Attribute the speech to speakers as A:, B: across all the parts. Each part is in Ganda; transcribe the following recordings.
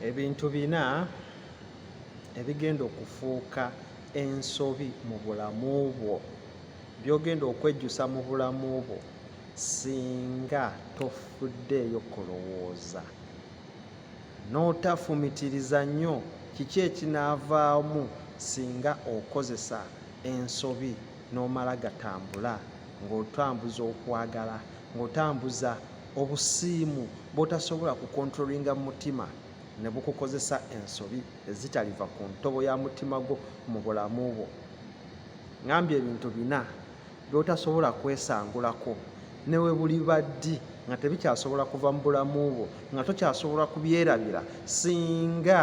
A: Ebintu bina ebigenda okufuuka ensobi mu bulamu bwo, by'ogenda okwejjusa mu bulamu bwo singa tofuddeeyo kulowooza n'otafumitiriza nnyo kiki ekinaavaamu singa okozesa ensobi n'omala gatambula. ng'otambuza okwagala ng'otambuza obusiimu bw'otasobola kukontrolinga mu mutima ne bukukozesa ensobi ezitaliva ku ntobo ya mutima gwo mu bulamu bwo ngambye ebintu bina by'otasobola kwesangulako ne we buliba ddi nga tebikyasobola kuva mu bulamu bwo nga tokyasobola kubyerabira singa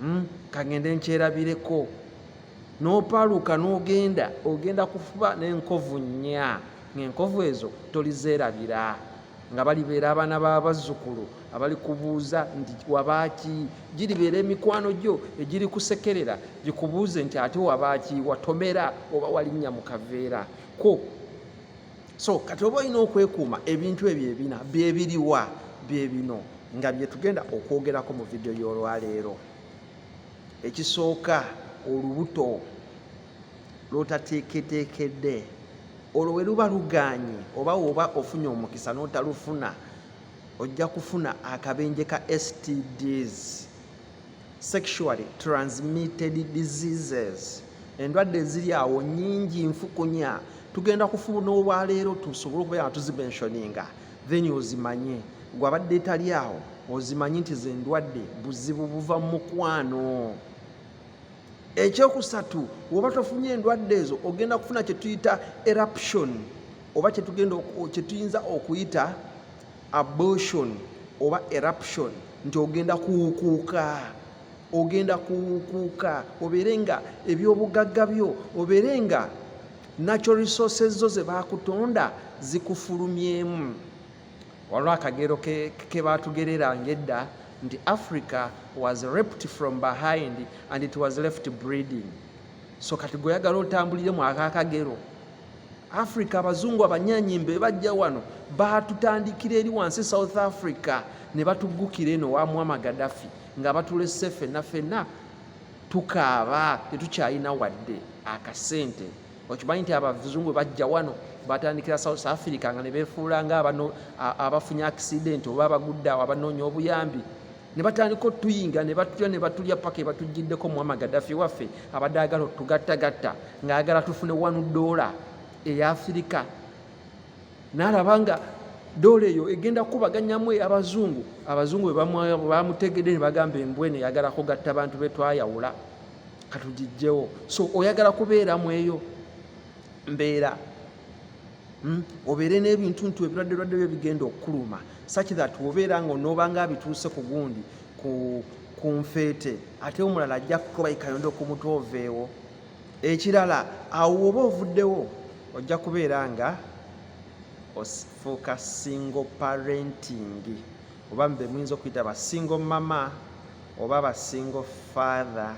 A: hmm? kagende nkyerabireko nopaluka nogenda ogenda kufuba nenkovu nya ngaenkovu ezo tolizeerabira nga balibeera abaana babazzukulu abali kubuuza nti wabaaki giribeera emikwano gyo egiri kusekerera gikubuuze nti ate wabaaki watomera oba walinnya mu kaveera ko so kati oba olina okwekuuma ebintu ebyo ebina byebiriwa byebino nga byetugenda okwogerako mu vidiyo y'olwaleero ekisooka olubuto lwotateeketeekedde olwo we luba luganye oba woba ofunye omukisa n'otalufuna ojja kufuna akabenje ka stds sexually transmitted diseases endwadde eziri awo nyingi nfukunya tugenda kufuna olwaleero tusobole okubeera nga tuzimensioninga then ozimanye gwe abadde etali awo ozimanye nti zendwadde buzibu buva mu mukwano ekyokusatu woba tofunye endwadde ezo ogenda kufuna kyetuyita eruption oba kyetugenda kyetuyinza okuyita abortion oba eruption nti ogenda kuwukuuka ogenda kuwukuuka obeere nga ebyobugagga byo obeere nga natural resources zo ze baakutonda zikufulumyemu waliwo akagero ke baatugereranga edda nti africa was reped from behind and it was left breeding so kati gweoyagala otambulire mu ako akagero Africa abazungu abanyanyimba ebajja wano baatutandikira eri wansi e South Africa ne batuggukira eno wa Muammar Gaddafi nga batulese fenna fenna tukaaba tetukyalina wadde akasente okimanyi nti abazungu bajja wano batandikira south africa nga nebefuula nga abafunye accident oba abagudde awo abanoonya obuyambi ne batandika otuyinga ne batulya ne batulya paka ebatujjiddeko muwama gadafi waffe abadde agala otugattagatta ng'ayagala tufune wanu doola eya afirika n'alaba nga doola eyo egenda kukubaganyamu abazungu abazungu bebamutegedde ne bagamba embwene yagala kugatta bantu be twayawula katugijjewo so oyagala kubeera mu eyo mbeera Hmm? obeere n'ebintuntu ebirwadde lwadde byo bigenda okukuluma such that obeera nga onoobanga abituuse ku gundi ku nfeete ate omulala ajja kukuba ikayonda okumutu oveewo ekirala awo woba ovuddewo ojja kubeera nga ofuuka single parenting oba mbe muyinza okuyita ba single mama oba ba single father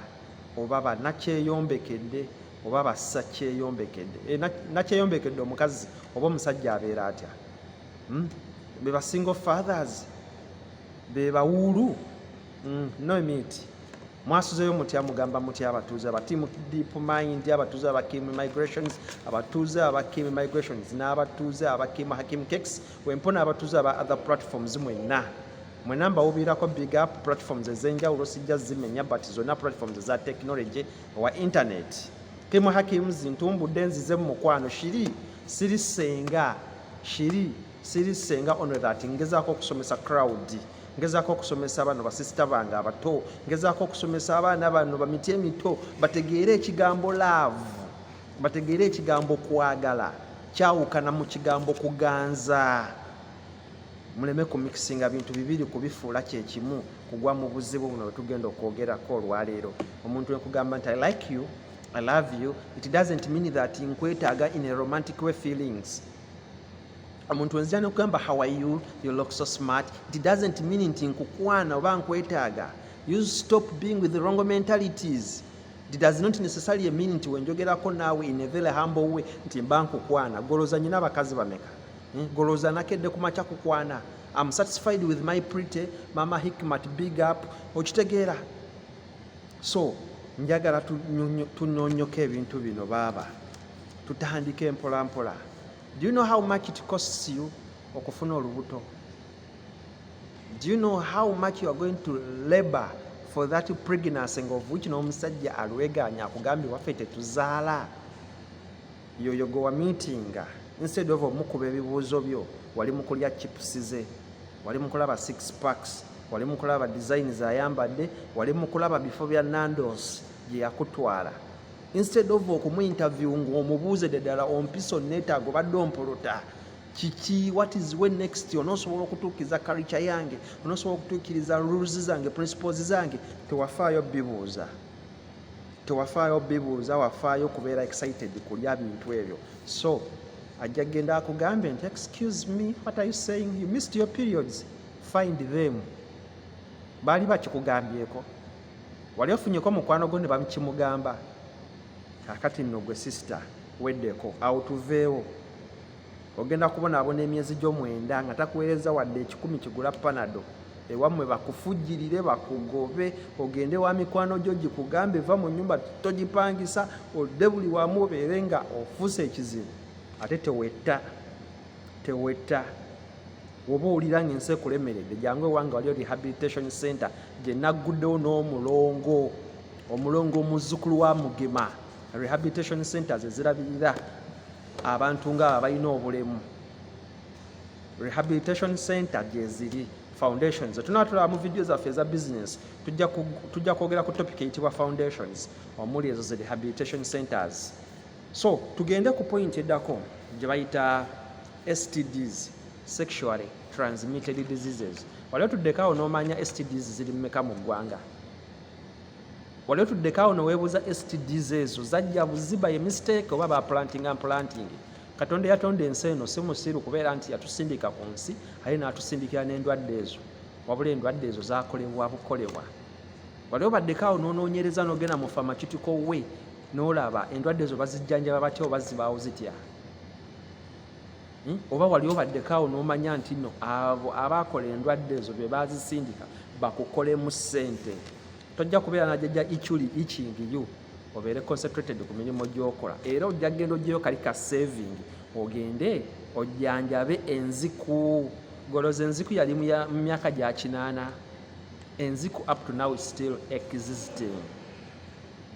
A: oba banakyeyombekedde oba basakyeyombekedde eh, nakyeyombekedde omukazi oba omusajja abeera atya hmm? be basingle fathers be bawuulu hmm, no meet mwasuzeyo mutya mugamba mutya abatuuze aba team deep mind abatuuze aba kim migrations abatuuze aba kim migrations n'abatuuze aba kim hakim cakes wempona abatuuze aba other platforms mwenna mwena mbawubiirako big up platforms ezenjawulo sijja zimenya but zonna platforms eza technology owa internet kimu hakimu zintumbudde nzize mu mukwano shiri siri senga shiri siri senga ono that ngezaako okusomesa crowd ngezaako okusomesa bano basisita bange abato ngezaako okusomesa abaana bano bamiti emito bategeere ekigambo love bategeere ekigambo kwagala kyawukana mu kigambo kuganza muleme ku mixinga bintu bibiri kubifuula kyekimu kugwa mu buzibu buno bwetugenda okwogerako olwaleero omuntu wekugamba nti i like you i love you it doesn't mean that nkwetaaga in a romantic way feelings omuntu wenzija nokugamba how are you you look so smart it doesn't mean nti nkukwana oba nkwetaaga you stop being with the wrong mentalities it does not necessarily mean nti wenjogerako naawe in a very humble way nti mba nkukwana goloza nyina abakazi bameka hmm, golooza nakedde ku makya kukwana am satisfied with my pretty mama hikmat big up okitegeera so njagala tunonyoko ebintu bino baaba tutandike mpola mpola do you know how much it costs you okufuna olubuto do you know how much you are going to labor for that pregnancy nga ovuki n'omusajja alweganya akugambye waffe tetuzaala yoyo gwe wamitinga instead of omukuba ebibuuzo byo wali mukulya chips ze wali mukulaba six packs wali mukulaba design zayambadde wali mukulaba bifo bya nandos gyeyakutwala instead of okumuinterview ngaomubuuze dedala ompisa onetaago badde ompuluta kiki what is we next onosobola okutuukiriza karica yange onosobola okutuukiriza rules zange principles zange tewafaayo bibuuza tewafaayo bibuuza wafaayo okubeera excited kulya bintu ebyo so ajja genda akugambe nti excuse me what are you saying you missed your periods find them baali bakikugambyeko wali ofunyeko mukwano gwo ne bakimugamba kakati nno gwe sister weddeko awo tuveewo ogenda kubonaabona emyezi gyo mwenda nga takuweereza wadde ekikumi kigula panado ewammwe bakufujjirire bakugobe ogende wa mikwano gyo gikugambe va mu nyumba togipangisa odde buli wamu obeere nga ofuuse ekizibu ate tewetta tewetta woba owulira nga ensi ekulemeredde jangu ewange waliyo rehabilitation center gye nagguddewo n'omulongo omulongo omuzzukulu wa mugema rehabilitation centers ezirabirira abantu nga abalina obulemu rehabilitation center gyeziri foundations tunatulaba mu vidiyo zaffe eza business tujja kwogera ku topic eyitibwa foundations omuli ezo zi rehabilitation centers so tugende ku point eddako gye bayita stds sexually transmitted diseases wali otuddeko awo n'omanya stds ziri mumeka mu ggwanga wali otuddeko awo neweebuuza stds ezo zajja buziba ye mistake oba ba planting and planting katonda yatonda ensi eno si musiru kubeera nti yatusindika ku nsi aye n'atusindikira n'endwadde ezo wabula endwadde ezo zakolebwa bukolebwa wali obaddeko awo nonoonyereza nogenda mu famakitiko we nolaba endwadde ezo bazijjanjaba batya oba zibaawo zitya Hmm? oba wali obaddeko awo n'omanya nti no abo abaakola endwadde ezo be baazisindika bakukolemu ssente tojja kubeera najajja ichuli ichingiyu obeere concentrated ku mirimu gy'okola era ojja genda ojjeyo kali ka saving ogende ojjanjabe enziku goloza enziku yali mu myaka gya kinaana enziku up to now still existing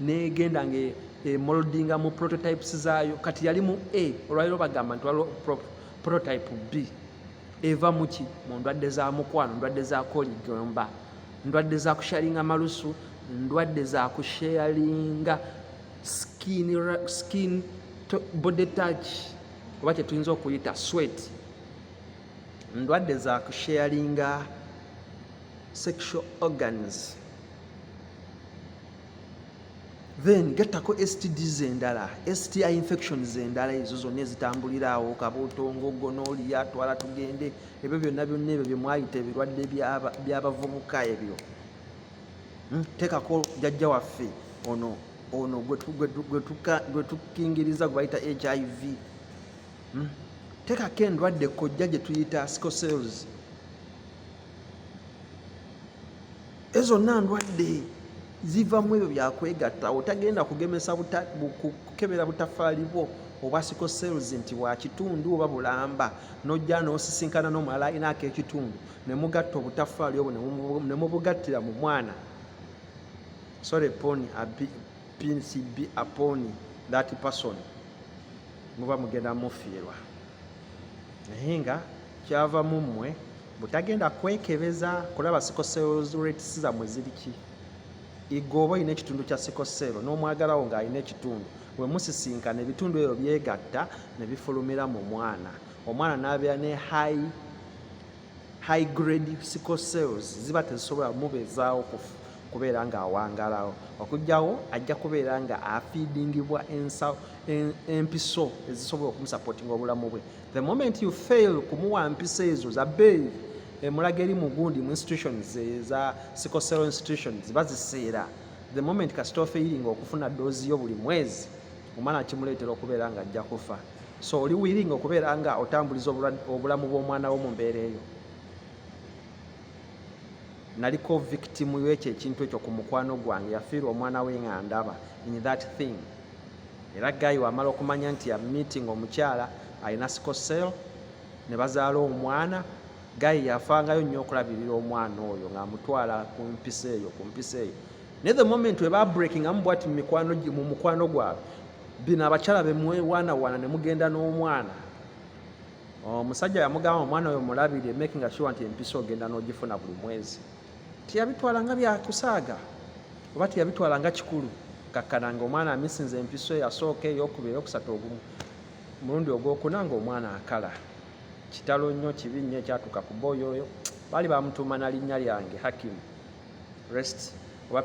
A: negenda nga emoldinga mu prototypes zaayo kati yali mu a olwaliro bagamba nti waliwo prototype b eva muki mu ndwadde za mukwano ndwadde za koligomba ndwadde za kusharinga malusu ndwadde za kusharinga skin, skin to, body touch oba kyetuyinza okuyita sweat ndwadde za kusharinga sexual organs then gettako stds endala sti infections endala ezo zonna ezitambulira awo kabutongo gonoliya twala tugende ebyo byonna byonna ebyo byemwayita ebirwadde byabavubuka ebyo hmm? tekako jajja waffe ono ono gwetukingiriza gwebayita hiv hmm? tekako endwadde kojja gyetuyita scosels Ezo zonna ndwadde ziva mu ebyo byakwegatta. Otagenda kugemesa kukebera butafaali bwo oba siko cells nti bwa kitundu oba bulamba, n'ojja n'osisinkana n'omulala alina ak'ekitundu ne mugatta obutafaali obwo ne mubugattira mu mwana. Sorry upon PCB upon that person muba mugenda mufiirwa naye nga kyava mu mmwe. butagenda kwekebeza kulaba sikoseroretis zamwe ziriki igooba olina ekitundu kya sikosero n'omwagalawo ng'alina ekitundu bwe musisinkana ebitundu ebyo byegatta ne bifulumira mu mwana omwana n'abeera ne high high grade sickle cells ziba tezisobola mubeezaawo kubeera ng'awangalawo okugyawo ajja kubeera nga afiidingibwa empiso ezisobola okumusapootinga obulamu bwe the moment you fail kumuwa mpisa ezo za bbeeyi emulaga eri mu gundi mu institutions eza sicosero institutions baziseera the moment kasita ofeiringa okufuna doozi yo buli mwezi omwana kimuleetera okubeera nga ajja kufa so oli wiringa okubeera nga otambuliza obulamu bw'omwana wo mu mbeera eyo naliko victim yekyo ekintu ekyo ku mukwano gwange yafiirwa omwana we nga ndaba in that thing era gayi wamala okumanya nti ya meeting omukyala alina scosel ne bazaala omwana gayi yafangayo nnyo okulabirira omwana oyo ng'amutwala ku mpisa eyo ku mpisa eyo naye the moment weba breaking amu bwati mu mukwano gwabwe bino abakyala bemwewaanawaana ne mugenda n'omwana omusajja yamugamba omwana oyo mulabire making sure nti empisa ogenda n'ogifuna buli mwezi teyabitwala nga byakusaaga oba teyabitwala nga kikulu kakkana nga omwana amisinza empiso eyasooka eyokubiri eyokusatu ogumu mulundi ogwokuna nga omwana akala kitalo nnyo kibi nnyo ekyatuuka ku booyo oyo baali bamutuuma na linnya lyange hakim rest oba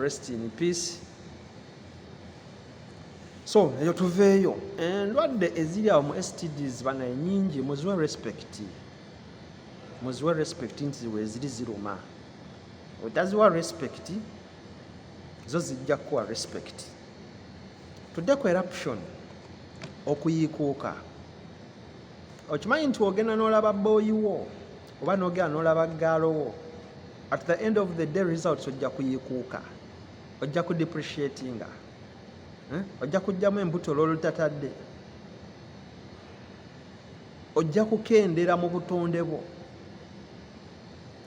A: rest in peace so eyo tuveeyo endwadde eh, eziri awo mu stds bana enyingi muziwe respect muziwe respect nti ziweziri ziruma otaziwa respect zo zijja kuwa respect tudde ku eruption okuyiikuuka okimanyi nti ogenda n'olaba booyiwo oba n'ogenda n'olaba gaalowo at the end of the day results ojja kuyiikuuka ojja ku depreciatinga eh? ojja kujjamu embuto lwolutatadde ojja kukendeera mu butonde bwo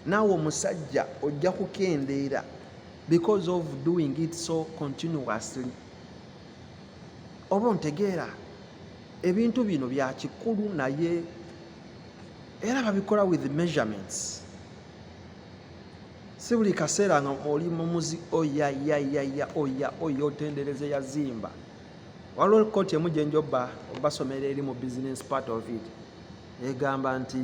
A: naawe omusajja ojja kukendeera because of doing it so continuously oba ontegeera ebintu bino bya kikulu naye era babikola with measurements si buli kaseera nga oli mumuzi oya yayaya oya oya otendereze yazimba waliwo kooti emu gyenja oba obasomera eri mu business part of it egamba nti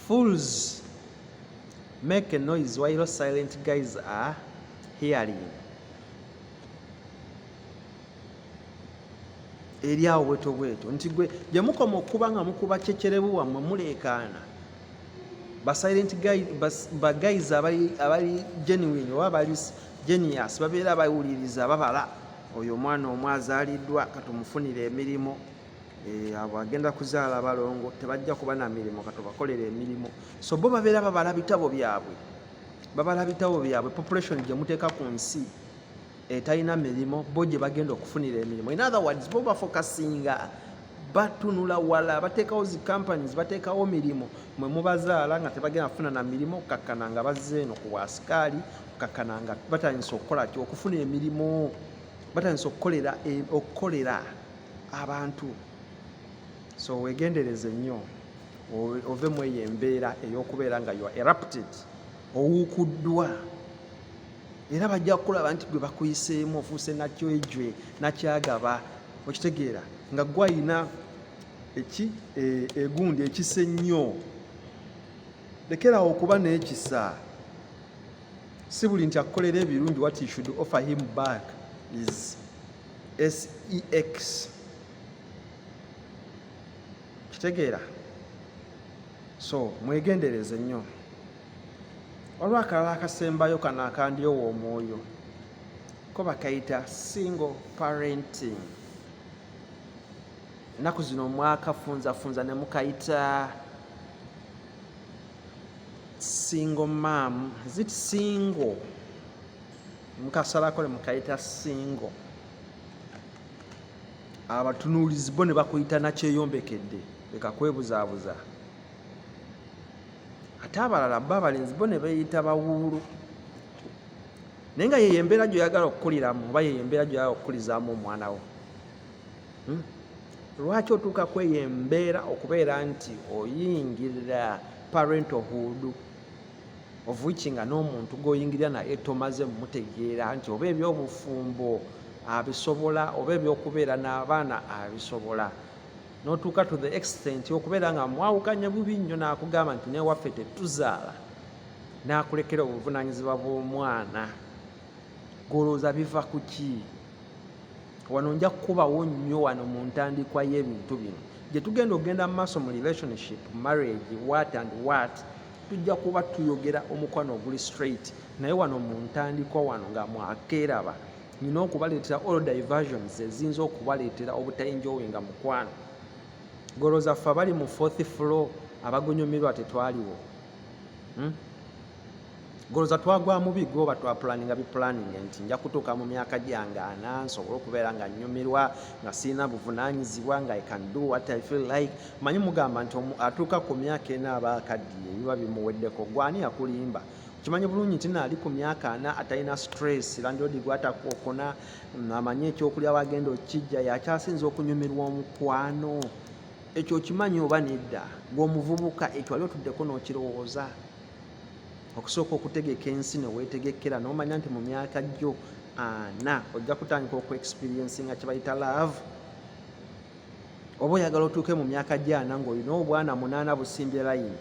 A: fools make a noise while silent guys are hearing eri awo bweto bweto nti gwe gye mukoma okukuba nga mukuba kyekyerebu wammwe muleekaana basilent bagaizi abali genuine oba bali genius babeera bawuliriza babala oyo omwana omu azaaliddwa katumufunire emirimu eh, abo agenda kuzaala balongo tebajja kuba na mirimu katubakolera emirimu so bo babeera babala bitabo byabwe babala bitabo byabwe population gye muteeka ku nsi etalina mirimo bo gyebagenda okufunira emirimu in other words bo bafokasinga batunula wala batekawo zi companies batekawo mirimu mwe mubazaala nga tebagenda kufuna na mirimu okukakkana nga bazze eno ku bwasikaali okukakkana nga batandisa okukola ki okufuna emirimu batandisa okukolera e, okukolera abantu so wegendereze nnyo ove mu eyo embeera ey'okubeera nga you are erupted owukuddwa era bajja kukulaba nti gwe bakuyiseemu ofuuse nakyejwe nakyagaba okitegeera nga gwe ayina eki e, egundi ekisa ennyo lekerawo okuba n'ekisa si buli nti akukolera ebirungi what you should offer him back is sex kitegeera so mwegendereze nnyo waliwo akalala akasembayo kano akandyowa omwoyo ko bakayita single parenting ennaku zino mwakafunzafunza ne mukayita single mam zit single mukasalako ne mukayita single abatunuulizi bo ne bakuyita nakyeyombekedde leka kwebuzaabuza ate abalala bo abalenzi bo ne beeyita bawuulu naye nga yeyo embeera gyoyagala okukuliramu oba yeyo embeera gyoyagala okukulizaamu omwana wo hmm? lwaki otuuka kweyo embeera okubeera nti oyingirira parentohood ovuiki nga n'omuntu gwoyingirira naye tomaze mutegeera nti oba ebyobufumbo abisobola oba ebyokubeera n'abaana abisobola notuuka to the extent okubeera nga mwawukanye bubi nnyo nakugamba nti newaffe tetuzaala nakulekera obuvunanyizibwa bw'omwana golowooza biva ku ki wano nja kukubawo nnyo wano mu ntandikwa y'ebintu bino gye tugenda okugenda mu maaso mu relationship marriage what and what tujja kuba tuyogera omukwano oguli straight naye wano mu ntandikwa wano nga mwakeeraba nina okubaleetera all diversions eziyinza okubaleetera obutainjoinga mukwano golo zaffe abali mu fourth floor abagunyumirwa tetwaliwo hmm? golo zatwagwa mubi goba twapulaninga bipulaninga nti nja kutuuka mu myaka gyange ana nsobole okubeera nga nyumirwa nga sirina buvunanyizibwa nga i can do what i feel like manyi mugamba nti atuuka ku myaka ena aba akaddiye ebiba bimuweddeko gwani akulimba kimanyi bulungi nti naali ku myaka ana atalina stress landlord gwatakookona mm, amanyi ekyokulya wagenda okijja yakyasinza okunyumirwa omukwano ekyo okimanyi oba nedda gweomuvubuka ekyo wali otuddeko nokirowooza okusooka okutegeka ensi newetegekera nomanya nti mu myaka gyo ana ojja kutandika okuexperiensi nga kyebayita love oba oyagala otuuke mu myaka gyo ana ngaolina obwana munaana busimbye layini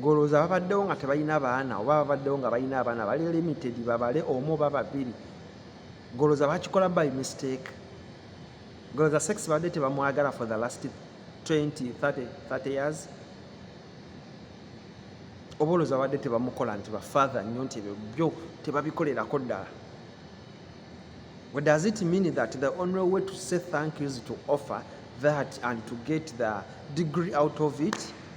A: golowooza babaddewo nga tebalina baana oba babaddewo nga balina abaana bali limited babale omu oba babiri golowooza bakikola by mistake golowooza sex badde tebamwagala for the last 20 30 30 years oba olowooza babadde tebamukola nti bafather nnyo nti ebyo byo tebabikolerako ddala What does it mean that the only way to say thank you is to offer that and to get the degree out of it?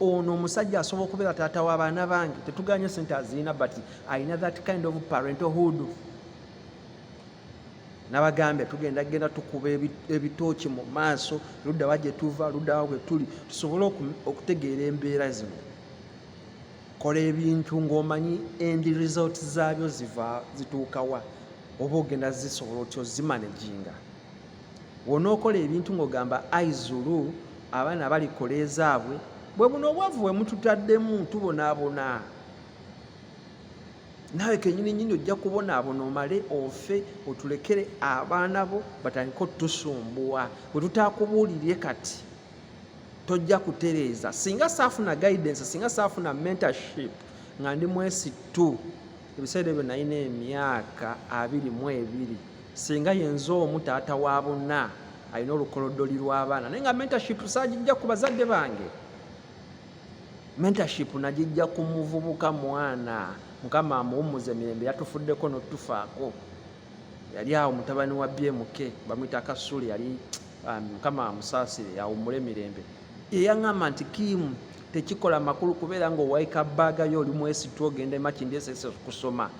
A: ono omusajja asobola okubeera taata wa baana bange tetuganye sente azirina but alina that kind of parentalhood nabagambye tugenda genda tukuba ebitooki mu maaso luddawa gye tuva luddawa bwe tuli tusobole okutegeera embeera zino kola ebintu ng'omanyi endi result zaabyo ziva zituukawa oba ogenda zisobola otya ozimanaginga Wonookola ebintu ng'ogamba Ai Zulu, abaana balikola ezaabwe, bwe buno obwavu bwe mututaddemu tubonaabona. Naawe kennyini nnyini ojja kubonaabona omale ofe otulekere abaana bo batandike otusumbuwa bwe tutaakubuulirire kati tojja kutereeza singa saafuna guidance singa saafuna mentorship nga ndi mwesittu ebiseera ebyo nalina emyaka abiri mu ebiri singa yenze omu taata wa bonna alina olukolodoli lw'abaana naye nga mentorship saagijja ku bazadde bange mentorship nagijja ku muvubuka mwana mukama amuwummuze mirembe yatufuddeko notufaako yali awo mutabani wa bmk bamwita kasule yali um, mukama amusaasire awummule mirembe yeyaŋamba nti kiimu tekikola makulu kubeera nga owaika baaga yo oli mwesitu ogenda emakindi esese kusoma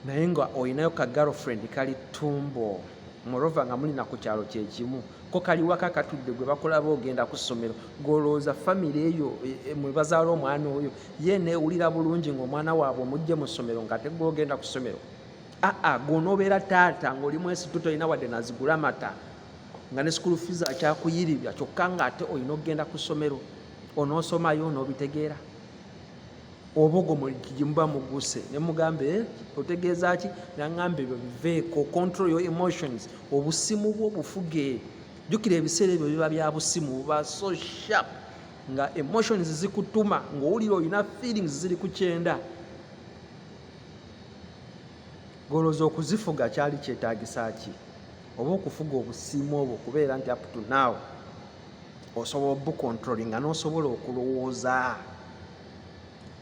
A: naye nga olinayo ka girlfriend kali tumbo morova nga muli naku kyalo kyekimu ko kaliwaka katudde gwe bakulaba ogenda ku ssomero gwolowooza famiry eyo e, e, mwe bazaala omwana oyo ye newulira bulungi ngaomwana waabwe omujje mu ssomero nga tegwe ogenda ku ssomero aa gwonobeera taata ngaoli mwesitu tolina wadde nazigula mata nga ne school fees akyakuyiribya kyokka nga ate olina okugenda ku ssomero onosomayo onobitegeera obogo gyemuba muguse nemugamba eh, otegeeza ki nangamba ebyo biveeko control your emotions obusimu bwo bufuge jukira ebiseera ebyo biba bya busimu buba so sharp nga emotions zikutuma ngaowulira olina feelings ziri ku kyenda golooza okuzifuga kyali kyetagisa ki oba okufuga obusimu obwo kubeera nti up to now osobola obukontrolinga nosobola okulowooza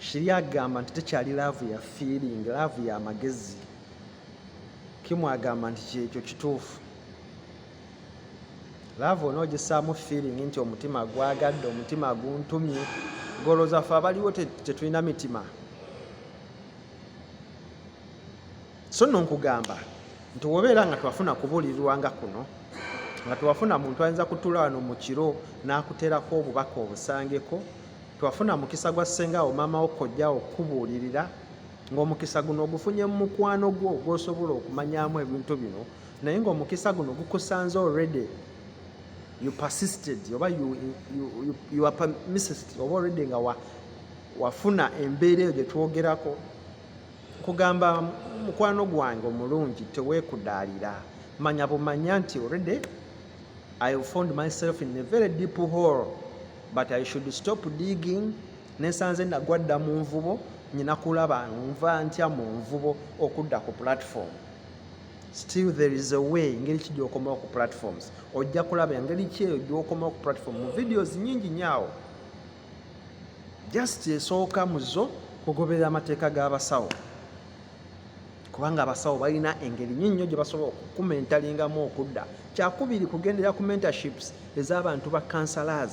A: kiri agamba nti tekyali laavu ya feeling laavu ya magezi kimu agamba nti kyekyo kituufu laavu onoogisaamu feeling nti omutima gwagadde omutima guntumye golozaffe abaliwo tetulina mitima so nno nkugamba nti wobeera nga twafuna kubuulirirwa nga kuno nga twafuna muntu ayinza kutula wano mu kiro n'akuterako obubaka obusangeko twafuna mukisa gwa ssengawo maamawo kojjawo okukubuulirira ng'omukisa guno ogufunye mu mukwano gwo gw'osobola okumanyamu ebintu bino naye ng'omukisa guno gukusanze already you persisted oba you, you, you, you are permissed oba already nga wafuna embeera eyo gye twogerako Nkugamba mukwano gwange omulungi tewekudaalira manya bumanya nti already I found myself in a very deep hole but I should stop digging nesanze nagwa dda mu nvubo nyina kulaba nva ntya mu nvubo okudda ku platform still there is a way engeri ki gyokomawo ku platforms ojja kulaba engeri ki eyo gyokomawo ku platform mu videos nyingi nyaawo just esooka mu zo kugoberera amateeka g'abasawo kubanga abasawo balina engeri nyo nnyo gye basobola okukumentalingamu okudda kyakubiri kugendera ku mentorships ez'abantu ba kansalaaza